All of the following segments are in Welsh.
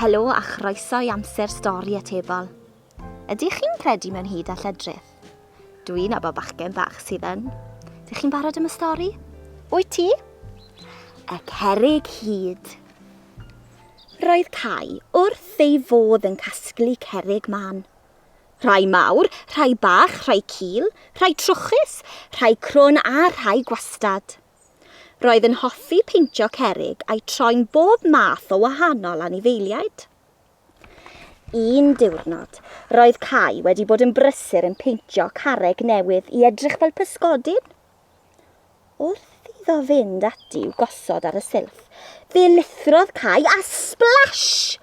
Helo a chroeso i amser stori atebol. Ydych chi'n credu mewn hyd a lledrith? Dwi'n abo bachgen bach sydd yn. Dych chi'n barod am y stori? Wyt ti? Y cerig hyd. Roedd Cai wrth ei fodd yn casglu cerig man. Rhai mawr, rhai bach, rhai cul, rhai trwchus, rhai crwn a rhai gwastad. Roedd yn hoffi peintio cerrig a'i troi'n bob math o wahanol anifeiliaid. Un diwrnod, roedd Cai wedi bod yn brysur yn peintio carreg newydd i edrych fel pysgodyn. Wrth iddo fynd ati i'w gosod ar y silff, fe lithrodd Cai a splash!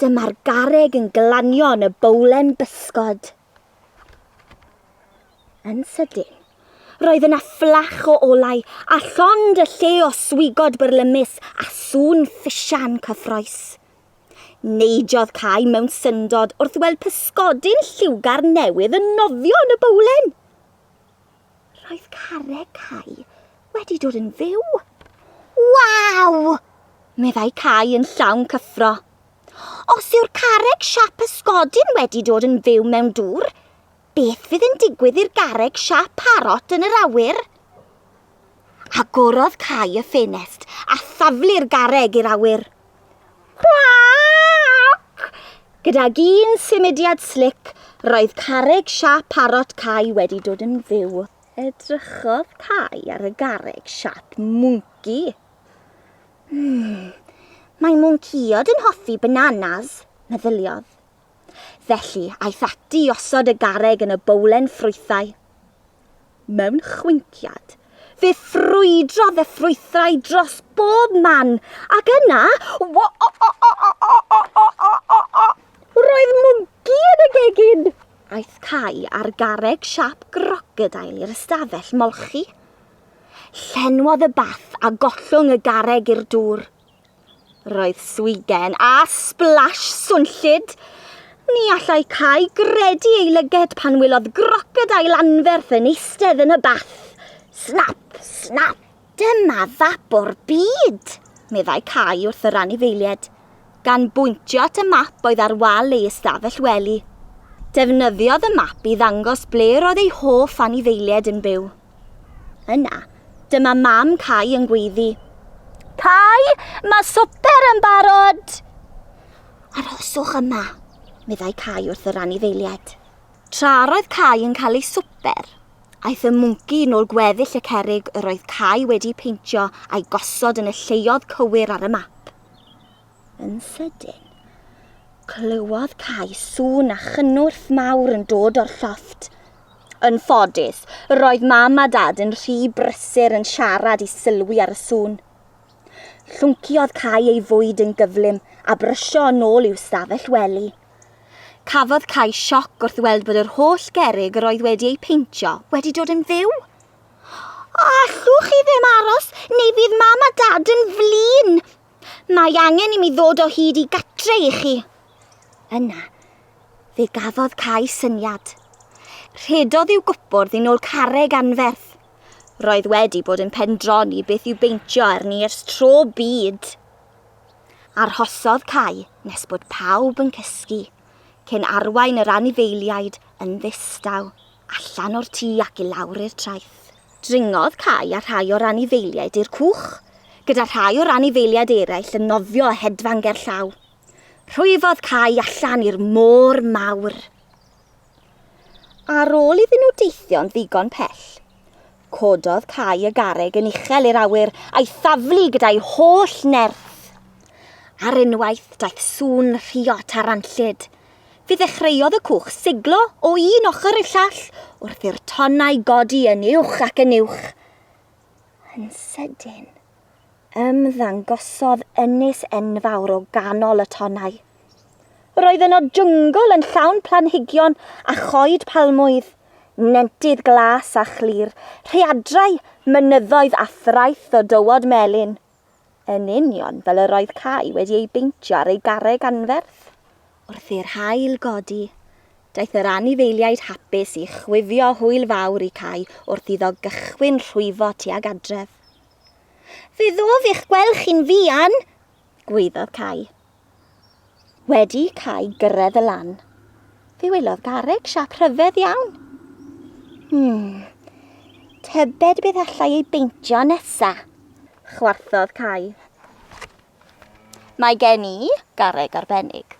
Dyma'r garreg yn glanio yn y bowlen bysgod. Yn sydyn, roedd yna fflach o olau a llond y lle o swigod byrlymus a sŵn ffisian cyffroes. Neidiodd Cai mewn syndod wrth weld pysgodyn lliwgar newydd yn nofio yn y bowlen. Roedd carreg Cai wedi dod yn fyw. Waw! meddai Cai yn llawn cyffro. Os yw'r carreg siap ysgodyn wedi dod yn fyw mewn dŵr, beth fydd yn digwydd i'r garreg siap parot yn yr awyr? Agorodd Cai y ffenest a thaflu'r garreg i'r awyr. Cwac! Gydag un symudiad slic, roedd carreg siap parot Cai wedi dod yn fyw. Edrychodd Cai ar y garreg siap mwnci. Hmm, mae mwnciod yn hoffi bananas, meddyliodd. Felly, aeth ati i osod y garreg yn y bowlen ffrwythau. Mewn chwinciad, fe ffrwydrodd y ffrwythrau dros bob man, ac yna, wo-o-o-o-o-o-o-o-o-o-o! Roedd mwnci yn y gegin! Aeth Cai a'r garreg siâp grocodeil i'r ystafell molchi. Llenwodd y bath a gollwng y garreg i'r dŵr. Roedd swigen a splash swnllyd! Ni allai Cai gredu ei lyged pan welodd grocodail anferth yn eistedd yn y bath. Snap! Snap! Dyma fap o'r byd! meddai Cai wrth yr anifeiliaid, gan bwyntio at y map oedd ar wal ei ystafell wely. Defnyddiodd y map i ddangos ble roedd ei hoff anifeiliaid yn byw. Yna, dyma mam Cai yn gweiddi. Cai, mae swper yn barod! Arhoswch yma, meddai Cai wrth yr anifeiliaid. Tra roedd Cai yn cael ei swper, aeth y mwnci yn ôl gweddill y cerig yr oedd Cai wedi peintio a'i gosod yn y lleoedd cywir ar y map. Yn sydyn, clywodd Cai sŵn a chynnwrf mawr yn dod o'r llofft. Yn ffodus, roedd Mam a Dad yn rhy brysur yn siarad i sylwi ar y sŵn. Llwnciodd Cai ei fwyd yn gyflym a brysio yn ôl i'w stafell wely. Cafodd Cai sioc wrth weld bod yr holl gerrig yr oedd wedi eu peintio wedi dod yn fyw. Allwch chi ddim aros, neu fydd Mam a Dad yn flin! Mae angen i mi ddod o hyd i gatre i chi. Yna, fe gafodd Cai syniad. Rhedodd i'w gwpwrdd yn ôl carreg anferth. Roedd wedi bod yn pendroni beth i'w beintio arni ers tro byd. Arhosodd Cai nes bod pawb yn cysgu, cyn arwain yr anifeiliaid yn ddistaw allan o'r tŷ ac i lawr i'r traeth. Dringodd Cai a rhai o'r anifeiliaid i'r cwch, gyda rhai o'r anifeiliaid eraill yn nofio a hedfan gerllaw. Rhwyfodd Cai allan i'r môr mawr. Ar ôl iddyn nhw deithio'n ddigon pell, cododd Cai y garreg yn uchel i'r awyr a'i thaflu gyda'i holl nerth. Ar unwaith, daeth sŵn rhiot a ranllyd, Fe ddechreuodd y cwch siglo o un ochr i'r llall wrth i'r tonnau godi yn uwch ac yn uwch. Yn sydyn, ymddangosodd ynys enfawr o ganol y tonnau. Roedd yno jyngl yn llawn planhigion a choed palmwydd, nentydd glas a chlir, rhaeadrau, mynyddoedd a thraeth o dywod melyn. Yn union fel yr oedd Cai wedi ei beintio ar ei garreg anferth. Wrth i'r haul godi, daeth yr anifeiliaid hapus i chwifio hwyl fawr i Cai wrth iddo gychwyn rhwyfo tuag adref. Fe ddof eich gweld chi'n fuan! gwaeddodd Cai. Wedi cael gyrraedd y lan, fe welodd garreg siap rhyfedd iawn. Hmm, tybed beth allai ei beintio nesa? Chwarthodd Cai. Mae gen i garreg arbennig.